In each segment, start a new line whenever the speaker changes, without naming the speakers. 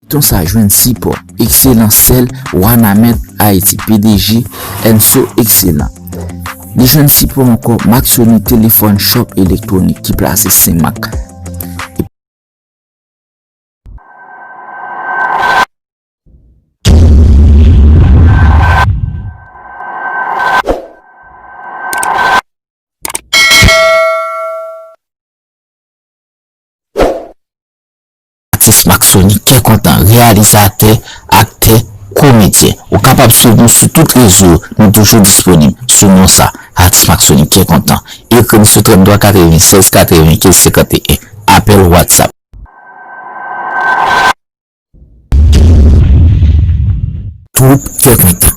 Feyton sa jwenn sipò ekselan sèl Wanament Haïti pdg Enso Ekselan. Li jwenn sipò ankò mak Sony Telefòn Shop Elektronik ki plase Senmak epi. Atis Maxony kè kontan, reyalizatè, aktè, komedyen. Ou kapab swiv nou sou tout rezo yo, nou toujou disponib sou non sa, Atis Maxony kè kontan. Ekri m sou 33 96 95 51, apèl WhatsApp. Twoup kè kontan.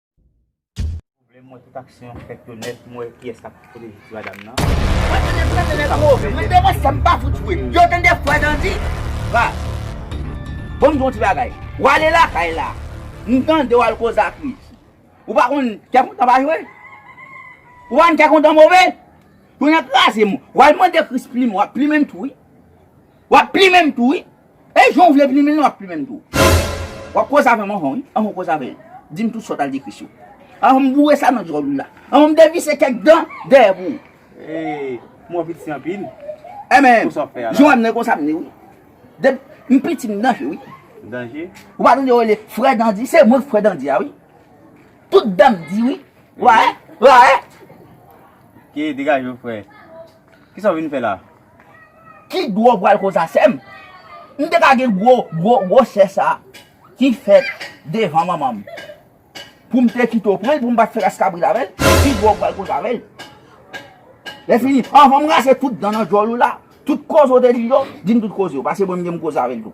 Vle m wè tout aksyon yo fèt yo nèt pou m wè kiyès kap pote jis madam nan. Mwen tande m tande nèg wou. Mwen te
wè sa m pa fout jwe. Yo tande fwa dandi. Ba. Bon m di w yon ti bagay. W ale lakay la. M tande w al koze ak li. Ou pa konn kè kontan pa jwe. Ou pa konn kè kontan move. Pou n kraze m. W al mande kris plimen. W ap plimen m tou wi. W ap plimen m tou wi. E jan w vle plimen l lan w ap plimen m tou. W ap koze avè m anvan wi, anvan w koze avè l. Di m tout sa w t al dekri sou l. Anvan m boure sa nan djòl ou la. Anvan m devise kèk dan dèyè pou ou.
E m wè w piti anpil. E men,
jan w wè m nan e konsa m
ye wi.
Dep m piti m danje wi. Danje? Ou pa
tande yo rele
frè dandi? Se mwen k frè dandi a wi. Tout dan m di wi. Wa e, wa e.
Ke degaje w frè. Kisa w vin fè la? Ki
gwo vwal konsa sèm. M te ka gen gwo gwo gwosè sa ki fèt devan manmanm. Poum te kite w pranl poum pat fè ras kabrit avèl. Ki gwo vwal konsa menm. Lè fini anvan m rase tout dan nan djòl ou la, tout koze w te di yo, dim tout koze yo. Pase mwen m gen m koze avèl tou.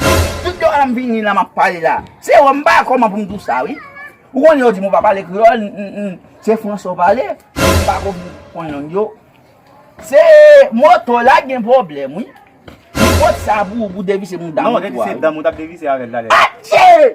Tout lè m vini la m ap pale la. Se wè m pa kòman pou m dou sa wi. Ou konnen yo di m ou pa pale kreyòl n. Se franse ou pale. M pa ko konn lang yo. Se moto la gen pwoblèm wi. M pot sa pou ou pou devise mouda moto a. Non, rete se danm ou t ap devise
avè l talè. Atchee!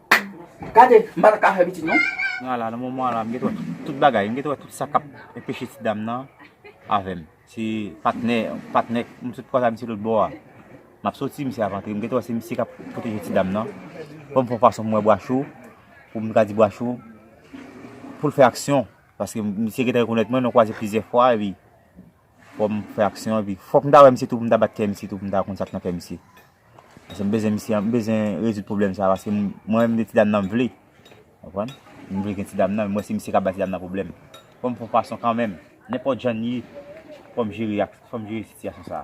Gade, m pa ta ka fè pitit non. Nan la, nan moman an la,
m gen ta wè tout bagay. M gen ta wè tout sa k ap enpeche ti dam nan avè m. Se patnè, patnè, m sot kwaze ak misye lòt bò a. M ap soti, misye ap antre. M gen ta wè se misye k ap pwoteje ti dam nan. Fò m fè yon fason pou m wè Bwacho, pou m ka di Bwacho pou l fè aksyon. Paske misye gen ta rekonèt mwen, nou kwaze plizyè fwa epi. Fòm fè aksyon an epi fòk m ta wè misye tou pou m ta bat kè misye tou pou m ta konn sak nan kè misye. Paske m bezwen misye an, m bezwen rezoud pwoblèm sa paske mwen menm de ti dam nan m vle. Konprann? M vle gen ti dam nan, m wè se misye k ap bay ti dam nan pwoblèm. Fò m fon fason kanmenm, nenpòt jan n ye, fò m jere ak, fò m jere sitiyasyon sa.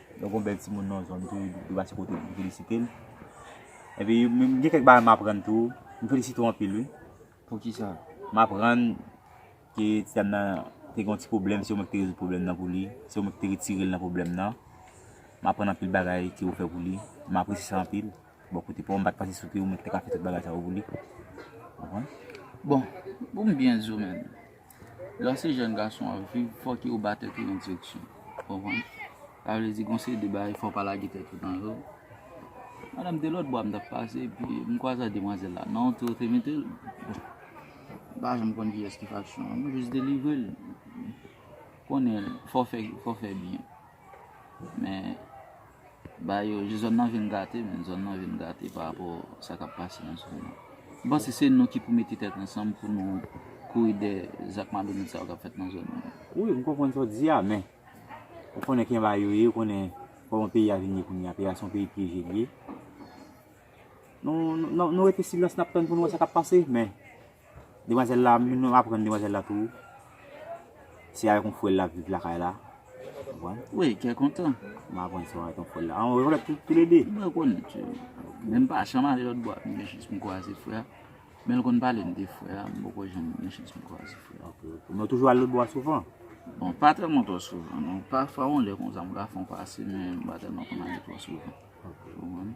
Lè w gen yon bèl timoun nan zòn tou, ou dwe pase kote l pou w felisite l. Epi, gen kèk bagay m aprann tou. M felisite w anpil wi. Poukisa?
M aprann
ke ti dam nan te gen yon ti pwoblèm, se ou menm ki te rezoud pwoblèm nan pou li. Se ou menm ki te retire l nan pwoblèm nan. M aprann anpil bagay ke ou fè pou li. M apresye sa anpil. Bò kote pa w, m pa t panse se te ou menm ki te ka fè tout bagay sa yo pou li.
Bon, ou konn byen di w menm. Lè se jèn gason w ap viv, fòk yo ba tèt yo yon direksyon. Ou konprann? Sa vle di gen yon seri de bagay fò w pa lage tèt ou nan yo. Madanm te lòtbò a m t ap pase epi m kwaze ak demwazèl la. Nan yon ti kote mete l. Bon, m pa janm konn kiyès ki faksyon an. M jis delivre l. Konnen fò w fè byen. Men ba yo je zòn nan vin gate men zòn nan vin gate pa rapò sa kap pase nan zòn nan. M panse se nou ki pou mete tèt ansanm pou nou kouri dè zak malonèt sa yo kap fèt nan zòn nan. Wi m konprann sa
w di a men ou konnen kijan bagay yo ye ou konnen kòman peyi a vin ye kounye a peyi a se yon peyi pyeje li ye. Nou rete silans nap tann pou nou wè sa kap pase men. Demwazèl la, mwen menm aprann demwazèl la tou. Se avèk yon frè l lap viv lakay la. Ou konprann? Wi,
kè kontan. Mwen aprann se avèk
yon frè l la. An, ou lèt tou lè de? Mwen konn li tou.
Men m pa janm ale lòtbò ak li gen chans pou m kwaze frè a. Men l konn pale m de frè a. M poko janm gen chans pou m kwaze frè a. Ok, ok. Men ou toujou ale lòtbò
a souvan? Bon, pa tèlman
twò souvan non. Pafwa yon lè konsa m ka fè yon pase men m pa tèlman konn ale twò souvan. Ok. Ou konprann?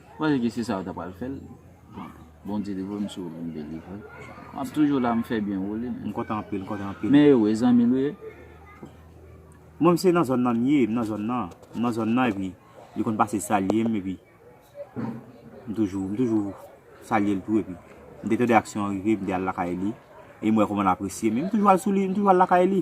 Panse ke se sa yo ta pral fèl bon Bondye livre m si yo vin delivre map toujou la m fè byen woule m kontan anpil m kontan
anpil men yo e zanmi
nou ye.
Mwen se nan zòn nan m ye m nan zòn nan m nan zòn nan epi li konn pase salye m epi m toujou m toujou salye l tou epi m te tande aksyon an rive m te al lakay li e m wè kòman l apresye m e m toujou al sou li m toujou al lakay li.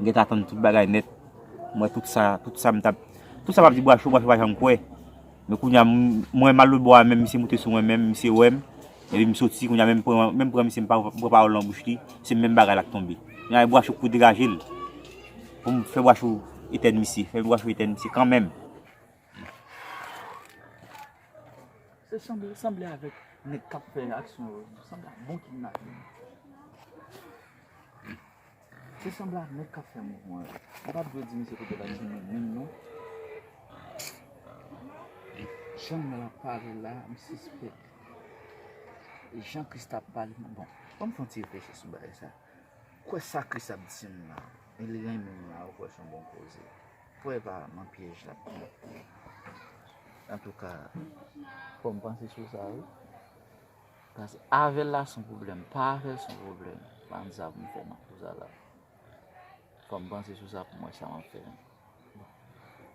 M gentan tann tout bagay nèt m wè tout sa tout sa m tap tout sa m ap di bwacho bwacho pa janm kwè men kounya m m wè mal lotbò a menm misye moute sou mwen menm misye wè m epi m soti kounya menm pran menm pran misye m pa pran pawòl nan bouch li se menm bagay la k tonbe kounya e bwacho k pou degaje l pou m fè bwacho etèn misye fè bwacho etèn misye kanmenm.
Se sanble a nèg kap fè mouvman yo. Nou pat dwe di misye kote valiz li menm menm non. Jan mwen ap pale la m sispèk jan Christ ap pale m bon. Banm fon ti reflechi sou bagay sa. Kwè sa Christ ap di m nan. E li renmen m la ou kwè son bon koze. Kwè pa nan pyèj lap pran. Antouka fòm panse sou sa wi. Pas avèl la son problème. Pa avèl son problème. Ban sa pou m fè nan kou sa la. Fò m panse sou sa pou m wè sa m ap fè.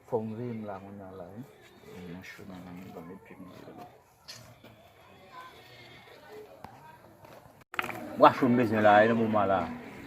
Fò m veye m la kounya la wi. Mwen nan cho nan menm ban m e pi m veye m.
Bwa cho m bezwen la e nan moman la.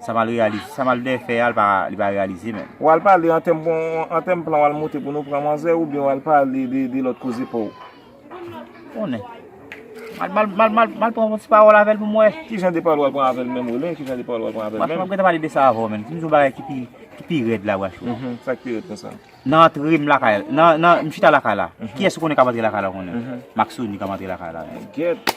Sa mal realize, sa mal dè fè a li pa realize menm. Ou al pale an tèm bon,
an tèm plan ou al monte pou nou pran manzè ou byen ou al pale de lòt koze pa ou?
Konnen. Mal pran yon ti pawòl avèl pou m wè. Ki jan de pawòl ou al pran avèl
menm ou len, ki jan de pawòl ou al pran avèl menm? Wachou map gentan pale de sa
avè
w
menm,
di m
yon bagay ki pi rèd la wachou. Sa ki pi rèd konsa?
Nan antre m lakay,
nan m chita lakay la, kiyès ou konnen kap antre lakay la ou konnen? Maksoni kap antre lakay la. Gèt.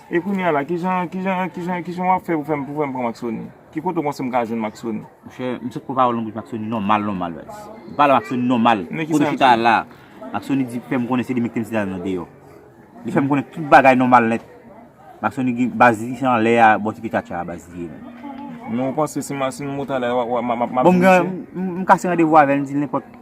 E kounya la kijan
kijan kijan kijan wap fè pou fèm pou fèm pran maksoni ki kote ou panse m ka jwenn maksoni. Monchè m sot pran pawòl
nan bouch maksoni nòmal nòmal wè m pale maksoni nòmal kote ou chita a la maksoni di fèm konnen se li mete msye dam nan deyò li fèm konnen tout bagay nòmal nèt maksoni gen baz li se anlè a bò ti pye tchatcha a baz li ye menm. Men ou
panse si m si m mou talè a map map jwenn msye. Bon m gen
m kase randevou avèl m dil nenpòt.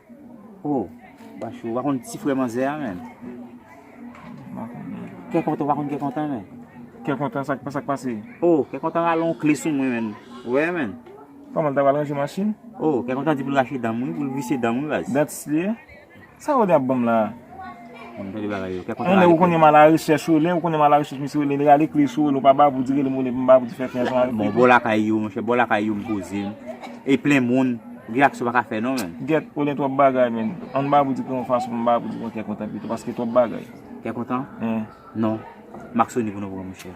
Oh
Pachou ou pa konn ti frè manzè a menm Kè kontan ou pa konn kè kontan menm Kè kontan
sa k pase Oh kè kontan rale
yon kle sou mwen menm ou wè menm Kòman l ta pral ranje
machin Oh kè kontan di pou l
rache dan m wi pou l vise dan m wi baz Dantist li ye
Sa ou gen ap ban m la a.
Yon lè ou konnen ma la
rechèch ou lè ou konnen ma la rechèch misye rele li rale kle sou ou lè ou pa ba pou di rele m ou lè pou m ba pou di fè fè ansanm avèk li. Bon bò lakay yo monchè
bò lakay yo m poze m e plen moun gen aksyon m pa ka fè non menn. Gèt ou lè twòp bagay
menn an m ba pou di kè yon fason pou m ba pou di kè kontan pito paske twòp bagay. Kè kontan? Wi.
Non maksoni pou nou pran monchè.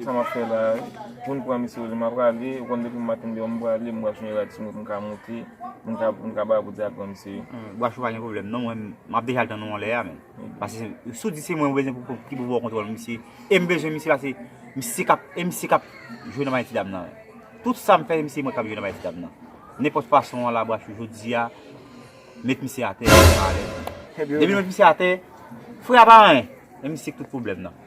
Sa map fè la
poun pran misye oze map rale ou konn depim maten deyò m prale m bwaf yon rad sou mwen poum ka moute poum ka ba poudi al pran misye wi. Bwaf ou pa gen pwoblèm
non mwen map deja al tann ou anlè a menm pase si w di se mwen ou bezwen pou ki pou baw kontwòl misye em bezwen misye la se misye kap e misye kap jwe nan bagay ti dam nan tout sam fè se mwen kap jwe nan bagay ti dam nan nenpòt fason an la bwaf ou jodi a met misye atè depi nou met misye atè frè a pa anyen e misye k tout pwoblèm nan.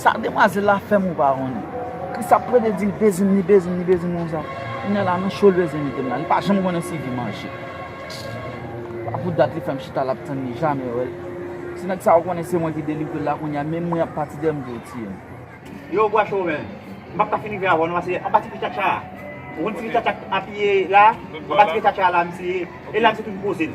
Sa
demwazel la fem ou pa konnen. Kris ap plede dil bezim li bezim li bezim konsa. Kounya la nan chol bezwen metem la. Li pa janm konnen si vi manje. Epa pou dat li fem chita la ap tann li jamè wel. Si neg sa ou konnen se mwen ki delivrel la kounya menm mwen ap pati deyem pou ou tiyem. Yow Guacho
men, m pap ka fin rive avèw non pase anba ti pye Tchatcha a, ou konn ti pye Tchatcha k apiye la, anba ti pye Tchatcha a la misye ye, e la misye toujou poze l.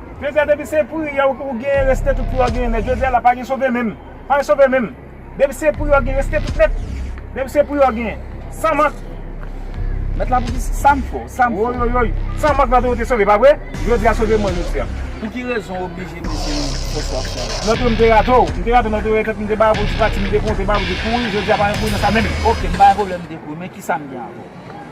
Jodi a depi se pri ya ou genyen reste tout pou yo genyen nèt jodi a la pa gen sove menm pa gen sove menm depi se pri yo genyen reste tout nèt depi se pri yo genyen san mank mèt
la pou di sam fò sam fò woyoyoy san
mank la tou yo te sove pa vre jodi a sove mwen jodi a. Pou ki rezon ou
oblije mete yon fo swaf nan ou. Nòt yo m te rate w, m
te rate w nòt yo e tèt m te bay pou ti pati m te konte bay pou te kouri jodi a pa gen kouri nan sa menm. Ok m pa gen pwoblèm m te
kouri men kisa m gen avè w.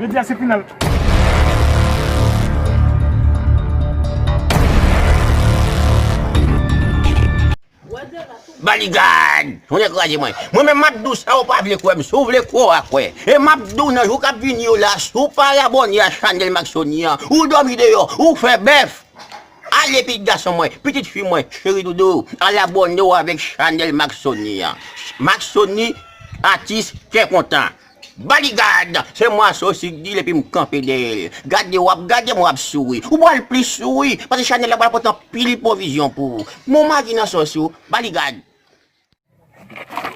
Jodi a se final. Baligad! Ou dekouraje mwen. Mwen men map dou sa ou pa vle kwè m. Si ou vle kwè ou a kwè. E map dou nan jou kap vini yo la, si ou pa abone a chanel Maxony an, ou domi deyò, ou fè bèf. Ale pitit gason mwen, pitit fi mwen, cheri doudou, al abone ou avèk chanel Maxony an. Maxony, atis kè kontan. Body guard! Se mwa so si k dil epi m kanpe dèyè l. Gade wap gade mwen wap souri. Ou pral plis souri paske chanèl la pral pote anpil pwovizyon pou ou. Men w magi nan so si w. Body guard!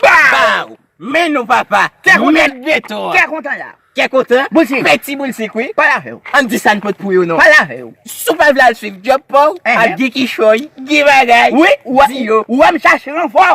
Baww! Men nou papa! Kè kontan! Met beton an! Kè kontan la! Kè kontan! Boulsik! Fè ti boulsik wi! Pale avè w! Ann di sa n pot pou yo non! Pale avè w! Si w pa vle al swiv djòb pa w, ap gen kichòy, gen bagay! Wi! Di yo! Ou wè m chache ranfò!